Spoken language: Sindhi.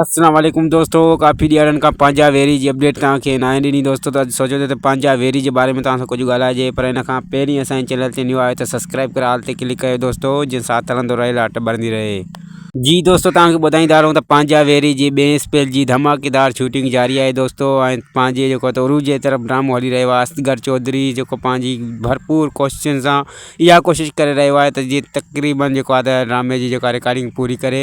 السلام عليڪم دوستو ڪافي ڏينهن کان پنهنجا ويري جي اپڊيٽ توهان کي ناهي ڏني دوستو ته اڄ سوچيو ته پنهنجا ويري جي باري ۾ توهان سان ڪجهه ڳالهائجي پر ان کان پهرين اسان جي چينل تي نيو آهيو ته سبسڪرائب ڪري آل تي ڪلڪ ڪيو دوستو جن ساٿ هلندو رهي لاٽ ٻرندي رهي جي دوستو توهان کي ٻڌائيندا رهون ته پنهنجا ويري جي ٻئي اسپيل جي ڌماڪيدار شوٽنگ جاري آهي دوستو ۽ پنهنجي جيڪو ته عروج جي طرف ڊرامو هلي رهيو آهي اصغر چوڌري جيڪو پنهنجي ڀرپور ڪوششن سان اها ڪوشش ڪري رهيو آهي ته جيئن تقريبن جيڪو آهي ته ڊرامي جي جيڪا رڪارڊنگ پوري ڪري